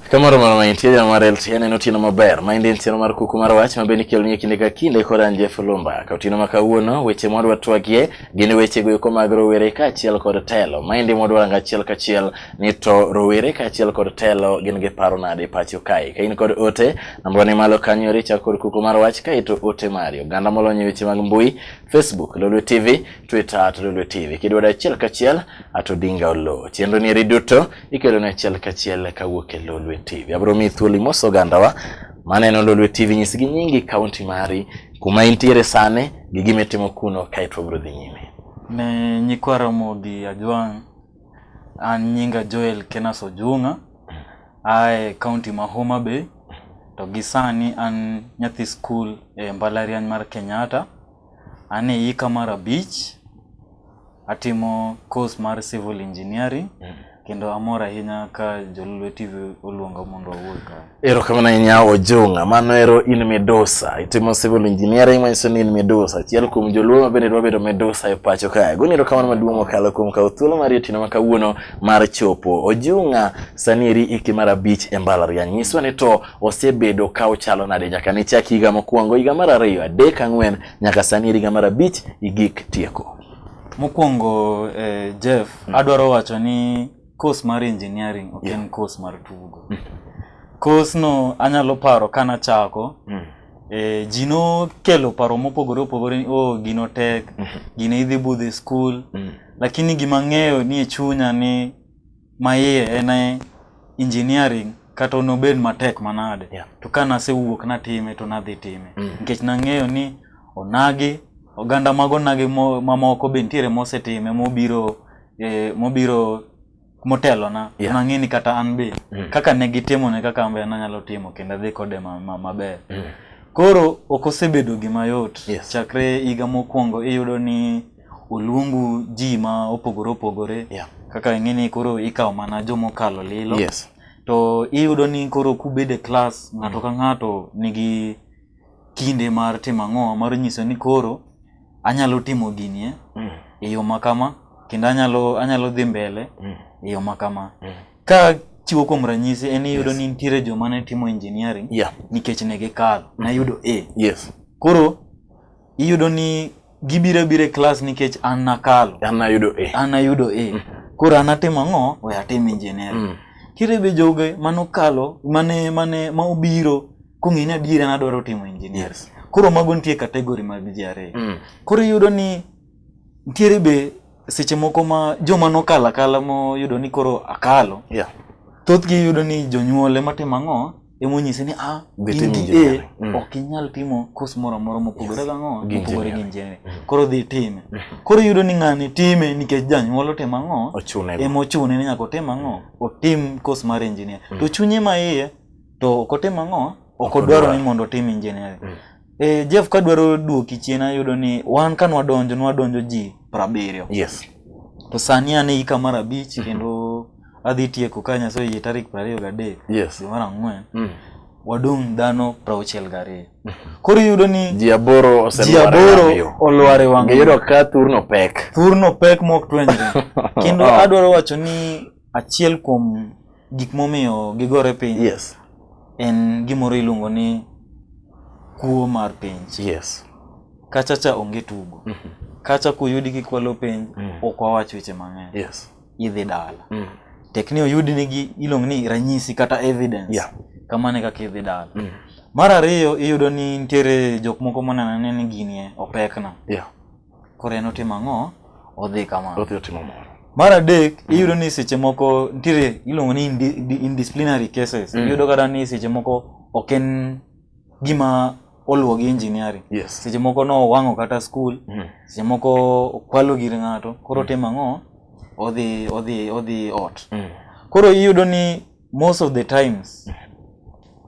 Kamoro mar ma intie jana mar LTN en otieno maber. Ma en tieno mar kuku mar wach ma bende kelo ni kinde ka kinde kod an Jeff Lumba. Ka otieno ma kawuono weche ma wadwa twagie gin weche go eko mag rowere kaachiel kod telo. Ma en modwa ranga achiel kachiel ni to rowere kaachiel kod telo gin gi paro nade pacho kae ka in kod ote namba ni malo kanyo richa kod kuku mar wach kae to ote mari oganda molony e weche mag mbui facebook lolwe tv twitter to lolwe tv kidwado achiel kachiel ato dinga olo chenro ni eri duto ikelo ne achiel kachiel kawuok e lolwe tv abro mi thuoli mos ogandawa maneno lolwe tv nyis gi nyingi kaunti mari kuma intiere sane gi gimitimo kuno kae to wabro dhi nyime ne nyikwa Ramogi Ajwang' An nyinga Joel Kenas Ojung'a, ae kaunti ma Homa Bay, to gi sani an nyathi skul e mbalariany mar Kenyatta. An e hika mar abich, atimo course mar civil engineering kendo amor ahinya ka Joluo TV oluonga mondo awuo kae. Erokamano ahinya Ojung'a, mano ero in midusa, itimo civil engineering manyiso ni in midusa, achiel kuom joluo ma bende dwa bedo midusa e pacho kae. Goni erokamano maduong' mokalo kuom kawo thuolo mar otieno ma kawuono mar chopo. Ojung'a, sani eri hiki mar abich e mbalariany, nyiswa ni to osebedo ka ochalo nade nyaka ne chak higa mokwongo, higa mar ariyo, adek, ang'wen, nyaka sani eri higa mar abich igik tieko? Mokwongo eh, Jeff, adwaro wacho ni course mar engineering ok en course mar tugo mm. course no anyalo paro kana chako mm. eh, ji nokelo paro mopogore opogore ni oh gino tek mm -hmm. gino idhi budh e skul mm. lakini gima ng'eyo ni e chunya ni maiye en e engineering kata onobed matek manade yeah. to ka nasewuok natime to nadhi time mm. nikech mm. nang'eyo ni onagi oganda mago nagi mamoko be nitiere mosetime mobiro eh, mobiro motelona yeah. nang'e ni kata an be mm. kaka ne gitimo ne kaka ambe nanyalo timo kendo adhi kode maber ma, ma mm. koro ok osebedo gima yot yes. chakre higa mokwongo iyudo ni oluongu ji ma opogore opogore yeah. kaka ing'e ni koro ikawo mana jomokalo lilo yes. to iyudo ni koro kubede klas ng'ato mm. ka ng'ato nigi kinde mar timo ang'o mar nyiso ni koro anyalo timo gini eh, mm. e yo makama kendo anyalo anyalo dhi mbele mm. e yo makama mm. ka chiwo kuom ranyisi en iyudo yes. ni nitiere joma ne timo engineering yeah. nikech ne gikalo mm. nayudo a yes. koro iyudo ni gibiro abira e klas nikech an nakalo an ayudo e an ayudo e mm. koro an atimo ang'o we atim engineering mm. kire be joge manokalo mane mane ma obiro kong'e ni adier an adwaro timo engineering yes. koro mago nitie kategori mag ji ariyo mm. koro iyudo ni ntiere be seche moko ma joma nokalo akala moyudo ni koro akalo yeah. thothgi iyudo ni jonyuol ema timo ang'o emonyise ni ah, in gi A mm. ok inyal timo kos moro amora mopogore gang'o mopogore gi injiniaring. Mm. Koro dhi time. Mm. Koro iyudo ni ng'ani time nikech janyuol otimo ang'o? Ema ochune ni nyaka otim ang'o? Otim kos mar injinia. To chunye ma iye to ok otim ang'o? Ok odwaro ni mondo otim injiniaring. Eh, Jeff ka dwaro duoki chien ayudo ni wan ka nwadonjo nwadonjo ji prabiriyo. Yes. To sani an e ika mar abich mm -hmm. kendo adhi tieko ka Nyasaye oyie tarik prariyo gadek. Yes. Dwe mar ang'wen. Mm. Wadong' dhano prauchiel gariyo. Mm -hmm. Koro iyudo ni ji aboro olware wang'yo. Ngiyudo ka thurno pek. Thurno pek mok twenjre. kendo oh. adwaro wacho ni Achiel kuom gik momiyo gigore piny yes. en gimoro iluongo ni kuo mar penj. Yes. Kacha cha onge tugo. Mm -hmm. Kacha kuyudi kikwalo penj mm. ok wawach weche mang'eny. Yes. Idhi dala. Mm. Tekni oyudi nigi iluongo ni ranyisi kata evidence. Yeah. Kamane kaka idhi dala. Mm. Mar ariyo iyudo ni nitiere jok moko moneno ni gini opekna. Yeah. Koro en otimo ang'o? Odhi kamano. Odhi otimo moro. Mar adek, mm. iyudo ni seche moko ntiere iluongo ni indisciplinary cases. Mm. Iyudo kata ni seche moko ok en gima oluwo gi engineering. Yes. Seche moko nowang'o kata skul, mm. seche moko okwalo gir ng'ato, koro mm. otimo ang'o? Odhi, odhi, odhi ot. Mm. Koro iyudo ni most of the times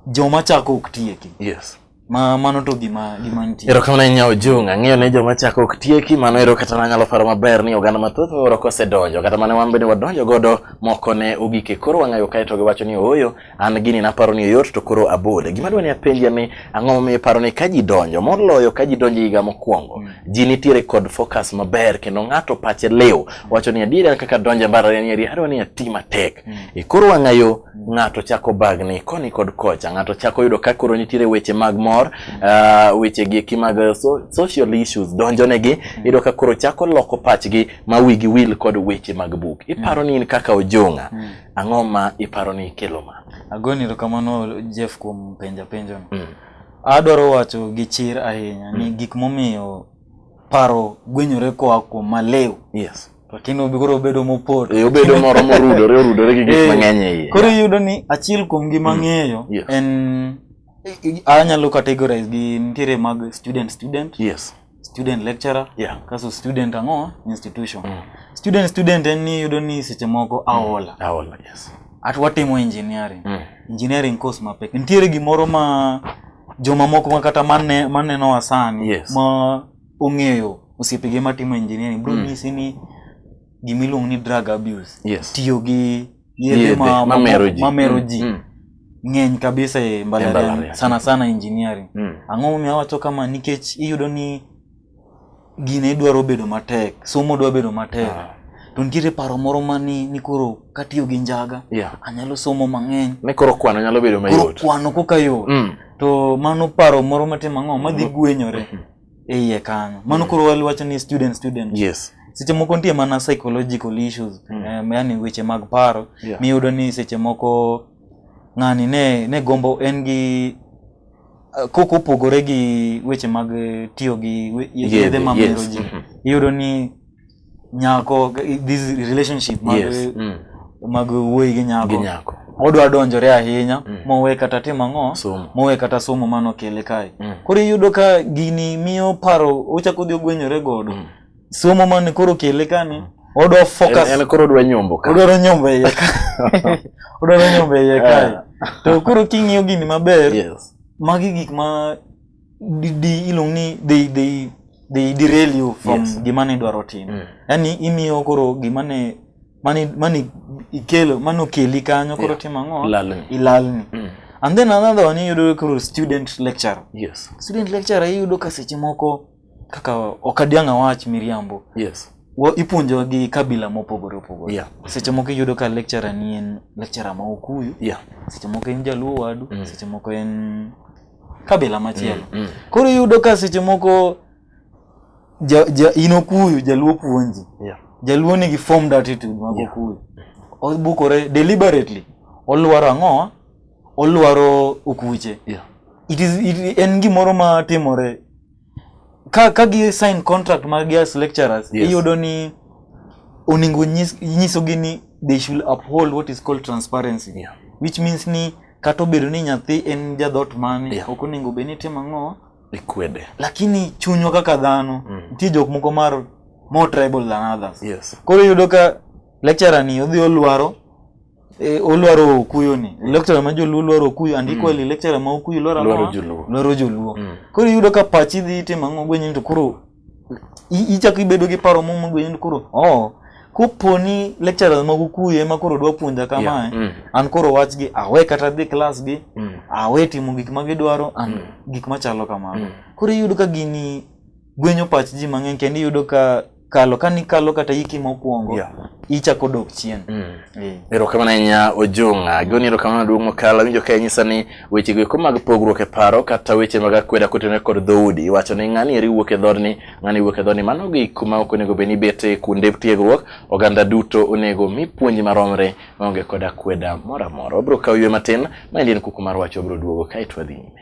joma chako ok tieki yes ma mano to gima gima nitie ero kamano inya ojung ang'eyo ne joma chako ok tieki mano ero kata nanyalo paro maber ni oganda mathoth miwuoro kosedonjo kata mane wan bende wadonjo godo moko ne ogike koro wang'ayo kae to giwacho ni ooyo an gini naparo ni oyot to koro abole gima dwa ni apenjia ni Ang'o momiyo iparo ni ka ji donjo moloyo ka ji donjo higa mokwongo mm. ji nitiere kod focus maber kendo ng'ato pache liw mm. wacho ni adier an kaka donjo e mbalariany eri adwa ni ati matek mm. e koro wang'ayo mm. ng'ato chako bagni koni kod kocha ng'ato chako yudo ka koro nitiere weche mag mor mm. uh, weche gi eki mag so, social issues donjo negi mm. yudo ka koro chako loko pachgi ma wigi wil kod weche mag buk mm. iparo mm. ni in kaka ojong'a mm. Ang'o ma iparo ni kelo ma? Agoni erokamano Jeff kuom penja penjono. Mm. Adwaro wacho gi chir ahinya mm. ni gik momiyo paro gwenyore koa kuom malew. Yes. To tinde obigoro obedo mopot. E, obedo moro morudore orudore gi gik eh, mang'eny e iye. Koro iyudo ni achiel kuom gima mm. ng'eyo yes. en anyalo categorize gi ntiere mag student student. Yes. student lecturer yeah. kaso student ang'o institution mm. student student en ni yudo ni seche moko mm. aola mm. aola yes at watimo engineering mm. engineering course mapek nitiere gimoro ma joma moko ma kata mane maneno wasani yes. ma ong'eyo osiepege matimo engineering bro mm. nyisi ni gimiluongo ni drug abuse yes. tiyo gi yedhe ma, ma, mero ji, ma mero ji. Mm. ng'eny kabisa e mbalariany sana sana engineering mm. ang'o momiyo awacho kama nikech iyudo ni gine idwaro bedo matek somo dwa bedo matek ah. to nitiere paro moro mani ni koro katiyo gi njaga yeah. anyalo somo mang'eny ni koro kwano nyalo bedo mayot kwano koka yot mm. to mano paro moro matim ang'o madhi mm. gwenyore mm -hmm. e iye kanyo mano koro waliwacho ni student student yes seche moko nitie mana psychological issues mm. eh, yani weche mag paro yeah. miyudo ni seche moko ng'ani ne, ne gombo en gi eh, koko opogore gi weche mag eh, tiyo gi yedhe mamero ji mm-hmm. iyudo ni nyako this relationship mag yes. mm. mag wuoyi gi nyako, gi nyako. modwa donjore ahinya mm. mowe kata timo ang'o mowe kata somo mano kele kae mm. koro iyudo ka gini miyo paro ochako dhi ogwenyore godo mm. somo mane koro kele kani mm. odwa focus en, en koro odwa nyombo ka odwa nyombo iye ka odwa nyombo iye kae to koro king'iyo gini maber yes. magi gik ma di, di iluong ni they, they, they derail you from Yes. gima ne idwaro timo Mm. yaani imiyo koro gima ne mani mani ikelo mani okeli kanyo koro Yeah. timo ang'o Lalni. ilalni Mm. and then another one iyudo koro student lecture Yes. student lecture iyudo ka seche moko kaka ok adiang' awach miriambo Yes. wa- ipuonjo gi kabila mopogore opogore Yeah. seche moko iyudo ka lecturer ni en lecturer ma okuyu Yeah. seche moko en jaluo wadu Mm. seche moko en kabila machielo mm, mm. koro iyudo ka seche moko ja, ja, in okuyu jaluo puonji yeah. jaluo nigi formed attitude mag yeah. okuyu obukore deliberately olwaro ang'o olwaro okuche yeah. it is, it, en gimoro matimore ka ka gi sign contract mag as lecturers yes. iyudo ni oningo nyiso gi ni they should uphold what is called transparency yeah. which means ni kata obedo ni nyathi en jadhot mane yeah. ok oningo be ni timo ang'o ikwede lakini chunywa kaka dhano mm. nitie jok moko mar more tribal than others yes. koro iyudo ka lecturer ni odhi olwaro Eh, olwaro okuyo ni lecturer ma joluo lwaro okuyo and equally lecturer ma okuyo lwaro Lwaro ang'owa? joluo. lwaro joluo Mm. koro iyudo ka pachi dhi itimo ang'o gwenyo ni to koro i- ichako ibedo gi paro momo gwenyo ni koro oh kopo ni lecturers mag okuyo ema koro dwa puonja kamae Yeah. Mm. an koro wachgi awe kata dhi klas gi Mm. awe timo gik ma gidwaro and gik machalo kamano Mm. koro iyudo ka gini gwenyo pach ji mang'eny kendo iyudo ka kalo ka nikalo kata hiki mokwongo Yeah. ichako dok chien Eh. erokamano ahinya ojong'a goni erokamano duong' mokalo awinjo ka inyisa ni wechego eko mag pogruok e paro kata weche mag akweda kotenore kod dhoudi iwacho ni ng'ani eri wuok e dhodni ng'ani wuok e dhodni mano gik kuma ok onego bed ni bete kuonde tiegruok oganda duto onego mi puonj maromre maonge kod akweda moro amora wabiro kawo ywe matin ma endi en kuku mar wach wabiro duogo kaeto wadhi nyime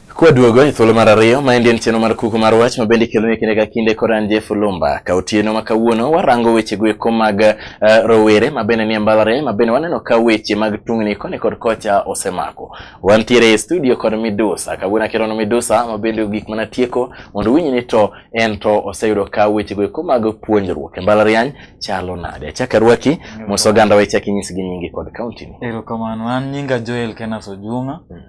Kwaduogo e thuolo mar ariyo, maendi en chenro mar kuku mar wach ma bende ikelone kinde ka kinde kod an Jeff Lumba. Ka otieno ma kawuono warango weche goeko mag uh, rowere ma bende nie mbalariany ma bende waneno ka weche mag tungni koni kod kocha osemako. Wantiere e studio kod Midusa. Kawuono akerono Midusa ma bende gik mana tieko mondo winyi ni to en to oseyudo ka weche goeko mag puonjruok e mbalariany chalo nade. Achaka rwaki mos oganda weche akinyisgi nyingi kod kaunti ni. Erokamano, an nyinga Joel Kenas Ojung'a. Mm.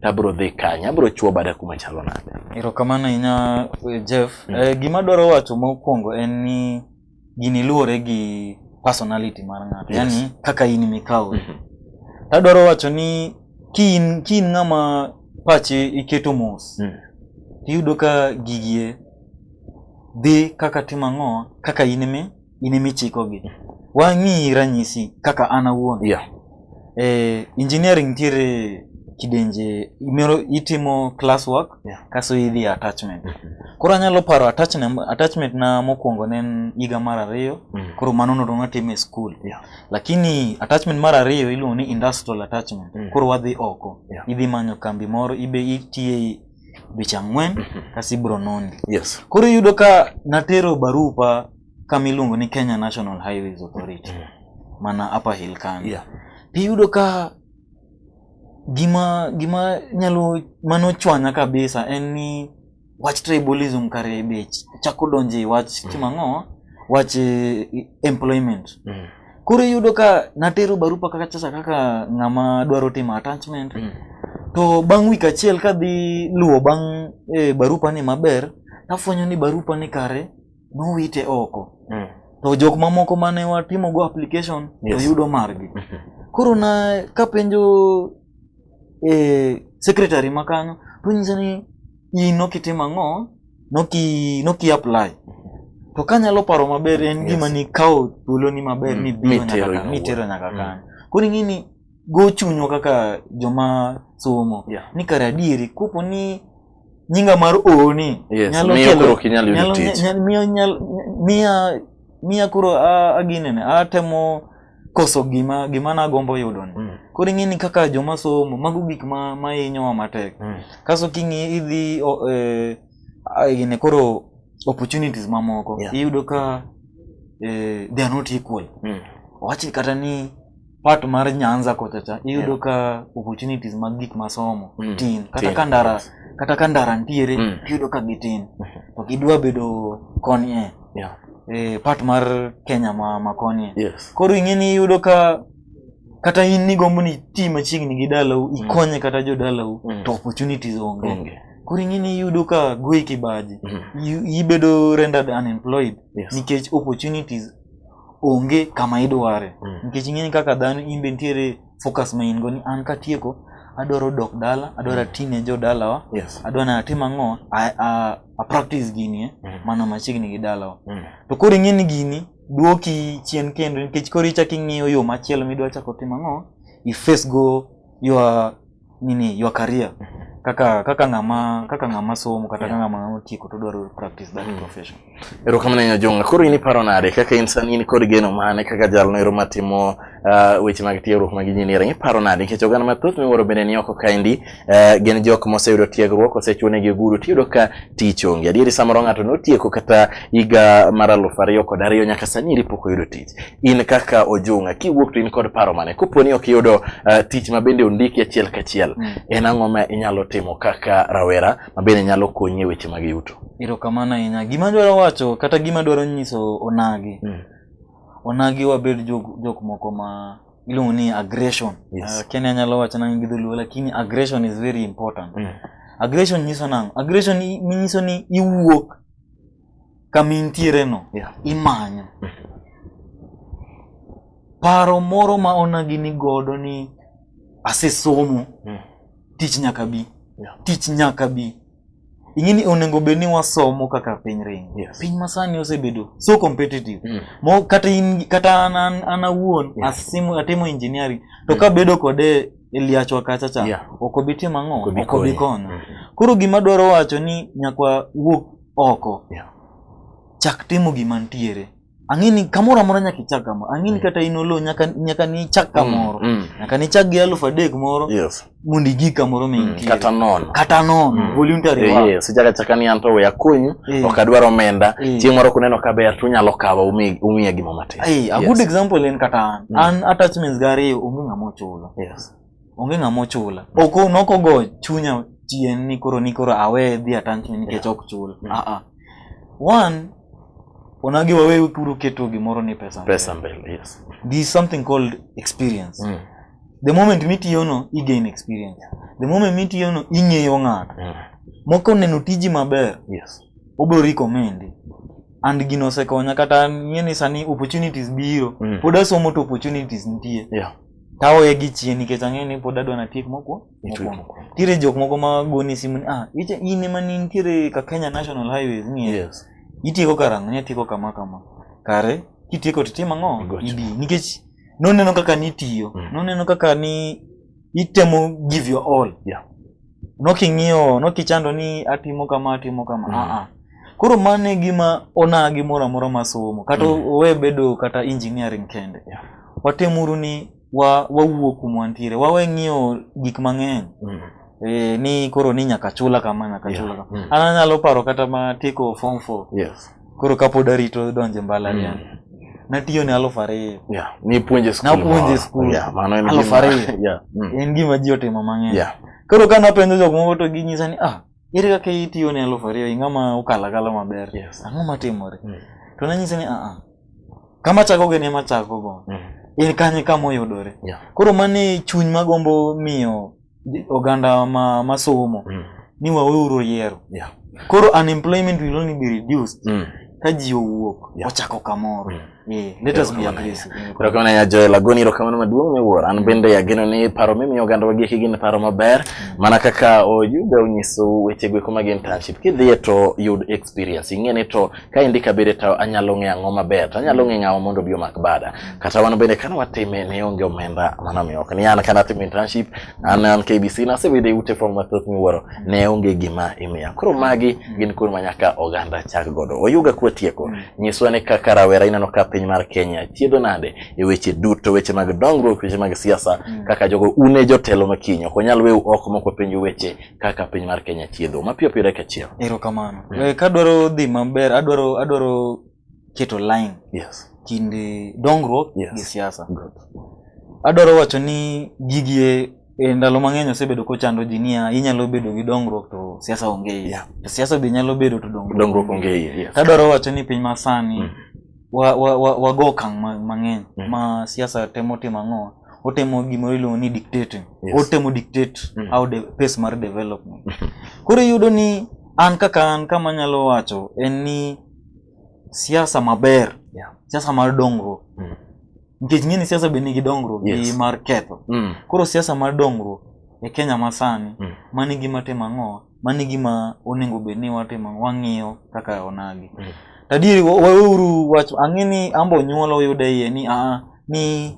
to abiro dhi kanye, abiro chuo bada kuma chalo nade. Erokamano ahinya eh, Jeff. Mm. Eh, gima dwaro wacho mokwongo en ni gini luwore gi personality mar ng'ato, yes. yani kaka in mikawo. Mm -hmm. Tadwaro wacho ni ki in, ki in ng'ama pache iketo mos, mm. tiyudo ka gigie dhi kaka timo ang'o kaka in mi in ema ichikogi. Wang'i ranyisi kaka an awuon. Yeah. Eh, engineering nitiere kidenje imero itimo class work Yeah. kaso idhi attachment. Koro anyalo paro attachment attachment na mokwongo ne en higa mar ariyo. Mm. Koro mano nodong' atimo e school. Yeah. Lakini attachment mar ariyo iluongo ni industrial attachment. Mm. Koro wadhi oko. Yeah. Idhi manyo kambi moro ibe itiye dweche ang'wen mhm. kasi ibro noni. Yes. Koro iyudo ka natero barupa kama iluongo ni Kenya National Highways Authority mm. mana Upper Hill Kano. Yeah. Iyudo ka gima gima nyalo mano chwanya kabisa en ni wach tribalism kare bech chako donje wach mm. kimang'o wach eh, employment. Mm. koro iyudo ka natero barupa kaka chasa kaka ng'ama dwaro timo attachment mm. to bang' wik achiel kadhi luwo bang' e, barupa ni maber tafwenyo ni barupa ni kare nowite oko mm. to jok mamoko mane watimogo application yes. to yudo margi mm -hmm. koro na kapenjo e, secretary makanyo tonyisa ni in ok itim ang'o noki noki apply to kanyalo paro maber en gima yes. nikawo thuoloni maber mm. mibiro nyaka mitero nyaka mm. kanyo koro ing'e ni go chunywa kaka joma somo yeah. ni kare adieri kopo ni nyinga mar ooni yes. nyalo kelo nyalo miya miya koro aginene atemo koso gima gima nagombo yudo ni mm. koro ing'eni kaka joma somo mago gik ma mahinyowa matek mm. kaso king'i idhi eh, gine koro opportunities mamoko yeah. iyudo ka eh, they are not equal mm. wachi kata ni part mar nyanza kochacha iyudo yeah. ka opportunities mag gik masomo mm. tin kata tin. ka ndara yes. kata ka ndara ntiere mm. iyudo ka gitin mm-hmm. to gidwa bedo koni e eh. yeah. eh, part mar kenya ma makonie yes. koro ing'eni iyudo ka kata in nigombo ni ti machiegni gi dalau mm. ikonye kata jodalau mm. to opportunities onge mm. koro ing'eni iyudo ka goi kibaji mm. ibedo rendered unemployed yes. nikech opportunities onge kama idware mm. nikech ing'eni kaka dhano in be nitiere focus ma in go ni an katieko adwaro dok dala adwaro atine jo dalawa Yes. adwa na atim ang'o a, a, a practice gini eh, Mm. mana machiegni gi dalawa Mm. to koro ing'e ni gini duoki chien kendo nikech koro ichak ing'iyo yo machielo midwa chako timo ang'o i face go your nini your career kaka kaka ng'ama kaka ng'ama somo kata yeah. ng'ama otieko to dwaro practice that mm. profession erokamano ahinya jonga koro in iparo nade kaka in sani in kod geno mane kaka jalno ero matimo uh, weche mag tiegruok mag engineering iparo nade nikech oganda mathoth miwuoro bende ni oko kaendi uh, gin jok moseyudo tiegruok osechuonegi ogudu tiyudo ka tich onge adieri samoro ng'ato notieko kata higa mar aluf ariyo kod ariyo nyaka sani iri pok oyudo tich in kaka ojunga kiwuok to in kod paro mane kopo ni ok iyudo uh, tich ma bende ondiki achiel kachiel mm. en ang'o ma inyalo timo kaka rawera ma bende nyalo konyi e weche mag yuto erokamano ahinya gima dwaro wacho kata gima dwaro nyiso onagi mm. onagi wabed jok, jok moko ma iluongo ni aggression yes. uh, kenya nyalo wacho nange gi dholuo lakini aggression is very important mm. aggression nyiso nango aggression nyiso ni iwuok kama intiereno yeah. imanyo paro moro ma onagi ni godo ni asesomo mm. tich nyaka bi yeah. tich nyaka bi ing'e ni onego bed ni wasomo kaka piny ring yes. piny masani osebedo so competitive mm. mo kata in, kata an, an, an awuon yeah. asimo, atimo engineering to mm. kabedo kode eliachwa kacha cha yeah. ok obi timo ang'o ok obi kono mm -hmm. koro gima dwaro wacho ni nyakwa wuok oko yeah. chak timo gima ntiere ang'eni kamoro amora nyaka ichak kamoro ang'eni mm. kata in olo nyaka nyaka nichak mm, kamoro mm, mm. nyaka nichak gi alufu adek moro yes. mondo igi kamoro mm, mintie kata nono kata nono mm. voluntary eh, work yes. ichaka chaka ni anto we akonyu eh. ok adwar omenda eh. chieng' moro kuneno ka ber tunyalo kawo umiya umi gimo matin eh, a yes. good example en kata an mm. an attachments gari onge ng'ama ochulo yes. onge ng'ama ochula ok nokogo chunya chien ni koro ni koro awe dhi atangni nikech ok chul mm. ah, ah. one onagi wawe kuro keto gimoro ni pesa pesa mbele yes there is something called experience mm. the moment mitiyono igain experience the moment mitiyono ing'eyo ng'ato mm. moko neno tiji maber yes obro recommend and gino osekonya kata ng'e ni sani opportunities biro mm. pod asomo to opportunities nitie yeah. taoye gi chien nikech ang'eyo ni pod adwa natiek mokuo mokuongo nitiere jok moko ma goni simu ni ah iche in ema ni nitiere ka Kenya National Highways ni yes. itieko karang'o nyatieko kama kama kare kitieko to tim ang'o Igocho. idi nikech noneno kaka nitiyo Mm. noneno kaka ni itemo give your all Yeah. noking'iyo nokichando ni atimo kama atimo kama mm. aa koro mano e gima ona gimoro amora masomo kata mm. owe bedo kata engineering kende yeah. watemuru ni wa wawuo kuma wantiere wawe ng'iyo gik mang'eny mm. e, ni koro ni nyaka chula kama nyaka yeah. chula kama mm. an anyalo paro kata ma tieko form four yes. koro kapod arito donje mbalariany mm. natiyo ne alufu ariyo yeah. nipuonje skul napuonje skul yeah, alufu ariyo yeah. mm. en gima ji otimo mang'eny yeah. koro ka napenjo jok moko to ginyisa ni ah ere kaka itiyo ne alufu ariyo ing'ama ukalakala maber yes. ang'o matimore mm. to nanyisa ni aa ah, ah. kama chakogo en ema chakogo mm. en kanye kama oyudore yeah. koro mane chuny magombo miyo oganda ma masomo mm. ni waweuru yiero yeah. koro unemployment will only be reduced mm. ka ji owuok yeah. ochako kamoro mm. Yeah, let us be aggressive. Erokamano ahinya Joel Agoni, erokamano maduong' miwuoro. An bende ageno ni paro mimiyo oganda wagi eki gin paro maber, mm. mana kaka oyudo onyiso weche gweko mag internship. Kidhiye to yud experience, ing'e ni to ka endi kabede to anyalo ng'e ang'o maber to anyalo ng'e ng'awa mondo obi omak bada kata wan bende kane watime ne onge omenda mana miyo ok ni an kane atimo internship an an KBC nasebede ute fong mathoth miwuoro ne onge gima imiya koro magi gin kuond ma nyaka oganda chak godo oyuga kwa tieko nyiswa ni kaka rawera ineno ka piny mar Kenya chiedo nade e weche duto weche mag dongruok weche mag siasa kaka jogo une jotelo makinyo ok onyal weu oko moko penju weche kaka piny mar Kenya chiedho mapiyo piyo dakika achiel. Erokamano. Mm. Eh, kadwaro dhi maber adwaro adwaro keto line yes. kind dongruok yes. gi siasa. Adwaro wacho ni gigie e ndalo mang'eny osebedo kochando ji niya inyalo bedo gi dongruok to siasa onge iye. Yeah. To siasa be nyalo bedo to dongruok, dongruok onge iye. Yes. Kadwaro wacho ni piny masani mm. wa, wa, wa, wago okang' ma- mang'eny Mm. ma siasa temo timo ang'o otemo gimoro iluongo ni dictating Yes. otemo dictate Mm. how de, pace mar development koro iyudo ni an kaka an kama nyalo wacho en ni siasa maber Yeah. siasa mar dongruok Mm. nikech ng'e ni siasa be nigi dongruok Yes. gi mar ketho Mm. koro siasa mar dongruok e kenya masani Mm. mani gima timo ang'o mano e gima onego bed ni watimo wang'iyo kaka onagi mm. tadieri waweuru wach ang'e ni ambo nyuola oyude iye ni a ah, ni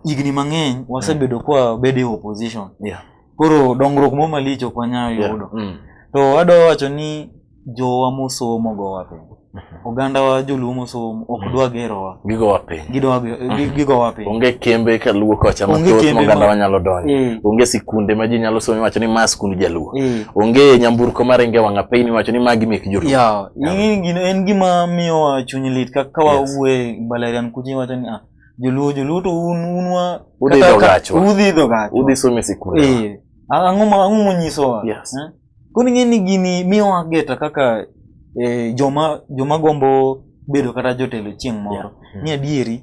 higni mang'eny wasebedo mm. kwa bedo e opposition yeah. koro dongruok mo malich ok wanyal yudo yeah. mm. to adwa wacho ni jowa mosomo go wapenjo oganda wa joluo mosom ok dwa gerowa gigowa piny gidwa ge- gi- gigowa piny onge kembe ka luo kocha Onge mathoth kembe moganda ma- wanyalo donjo Eh. onge sikunde ma ji nyalo somo iwacho ni ma skund jaluo Eh. onge nyamburko maringe wang'a piny iwacho ni magi mek joluo ya ing'e gino en gima miyowa chuny lit ka ka Yes. wawuoye mbalarian kucha iwacho ni ah, joluo joluo to un un wa Udhi kata- idho kata- gachwa. udhi idho gachwa. udhi some sikunde Eh, ang'o ma- ang'o monyisowa Yes. Eh? Koro ing'e ni gini miyo ageta kaka eh, joma joma gombo bedo kata jotelo chieng' moro. Yeah. Mm. Ni adieri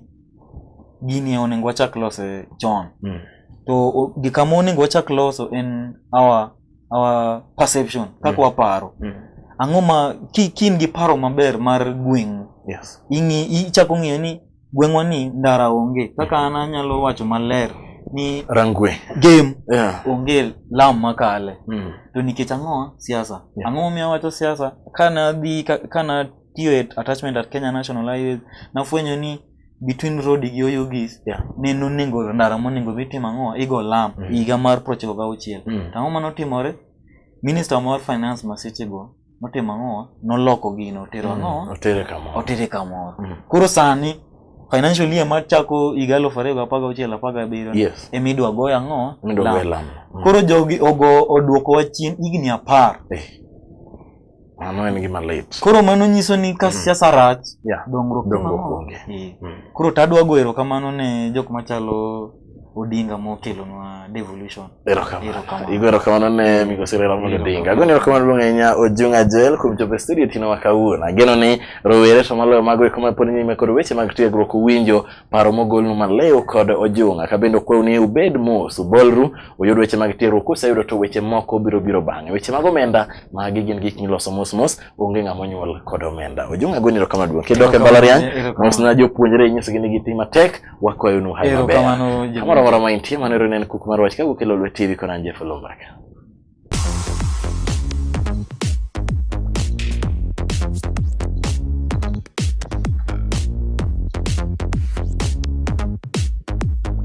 gini onego wachak lose chon. Mm. To o- gika ma onego wachak loso en our our perception kaka Mm. waparo. Mm. Ang'o ma ki ki in gi paro maber mar gweng'u Yes. ing'i ichako ng'eyo ni gweng'wa ni ndara onge kaka an anyalo wacho maler ni rangwe game yeah. onge lam makale mm. to nikech ang'o siasa yeah. ang'o momiyo awacho siasa kanadhi kana tiyo e attachment at kenya national highways nafwenyo ni between road gi oyugis yeah. ne nonego ndara monego dhi tim ang'o igo lam mm. higa mar prochiko gauchiel mm. to ang'o manotimore minister mar finance masechego notimo ang'owa noloko gino otero mm, ang'owa otere kamoro otere kamoro mm. koro sani financial year mar chako higa aluf ariyo gapar gauchiel apar gabiriyo yes. ema idwa goyo ang'owa lam mm. koro jogi ogo oduokowa chien higni apar eh. mano en gima lit koro mano nyiso ni ka mm. siasa rach yeah. dongruok dongruok onge eh. mm. koro tadwa go erokamano ne jok machalo Odinga mokelonwa devolution. Igo erokamano ne migosi Raila Amolo Odinga. Agoni erokamano duong' ahinya Ojung'a Joel kuom chopo e studio tino ma kawuono. Ageno ni rowere to maloyo mago eko ma pod nyime kod weche mag tiegruok uwinjo paro mogolnu malew kod Ojung'a. Ka bende okwau ni ubed mos, ubolru, uyud weche mag tiegruok kuseyudo to weche moko biro biro bang'e. Weche mag omenda magi gin gik miloso mos mos, onge ng'ama onyuol kod omenda. Ojung'a agoni erokamano duong'. Kidok e mbalariany, mosna jopuonjre inyisogi ni gitim matek wakwayo nu hayo maber kamoro amora ma intie mano ero ne en kuk mar wach ka wuok e Lolwe TV kod an Jeff Olomaka